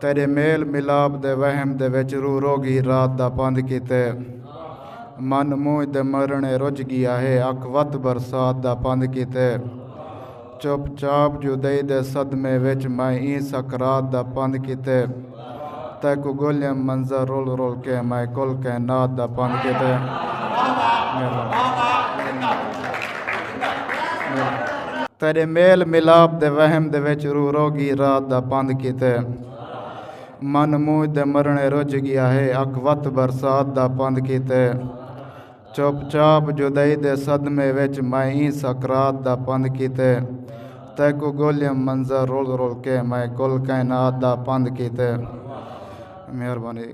تیڈے میل ملاپ دے وہم دے وچ روح رو گی رات دا پندھ کیتے من مونجھ دے مرنڑے رجھ گیا ہے اکھ وت برسات دا پندھ کیتے چپ چاپ جدئی دے صدمے وچ میں ایں سکرات دا پندھ کیتے تیکوں گولیم منظر رول رول کے میں کل کائنات دا پندھ کیتے تیرے میل ملاپ دے وہم دے وچ روح رو گی رات دا پند کیتے من موج دے مرنے رج گیا ہے اک وت برسات دا پند کیتے چپ چاپ جدائی دے صدمے وچ میں ای سکرات دا پند کیتے تیکو گولیم منظر رول رول کے میں کل کائنات دا پند کیتے مہربانی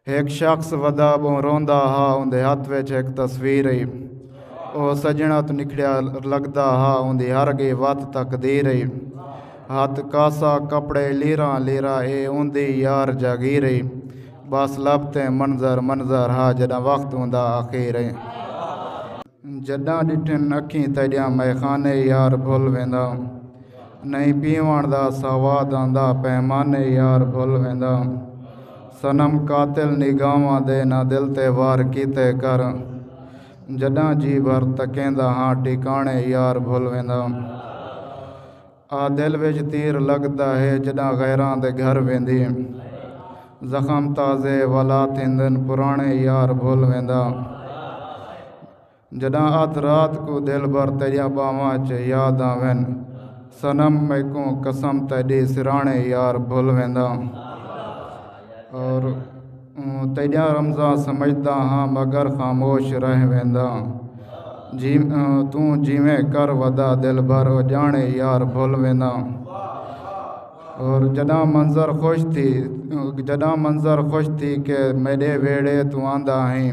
ہک شخص ودا بوں روندا ہا اوندے ہتھ وچ ہک تصویر ہئی او سجنا تو نکھڑیا لگدا ہا اوندی ہر گی وت تقدیر ہئی ہتھ کاسا کپڑے لیرا لیرا اے اوندی یار جاگیر ہئی بس لب تے منظر منظر ہا جدا وقت ہوندا اخیر ہئی جڈاں ڈٹھن اکھیں تیڈیاں میخانے یار بھل ویندا نئیں پیوݨ دا سواد آندا پیمانے یار بھل ویندا صنم قاتل نگاہواں دے نہ دل تے وار کیتے کر جڈاں جی بھر تکیندا ہاں ٹکانے یار بھل ویندا۔ آ دل وچ تیر لڳدا ہے جݙاں غیراں دے گھر ویندیں زخم تازے ولا تھیندن پراݨے یار بھل ویندا جݙاں ادھ رات کوں دلبر تیݙیاں ٻاہواں اچ یاد آون صنم میکوں قسم تیݙی سراݨے یار بھل ویندا اور تیڈیاں رمزاں سمجھدا ہاں مگر خاموش رہ وینداں توں جیویں کر ودا دلبر او جانے یار بھل وینداں اور جڈاں منظر خوش تھی جڈاں منظر خوش تھی کہ میڈے ویڑے توں آندا ہیں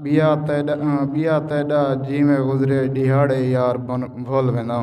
بیا تیڈا بیا تیڈا جیویں گزرے ڈیہاڑے یار بھل وینداں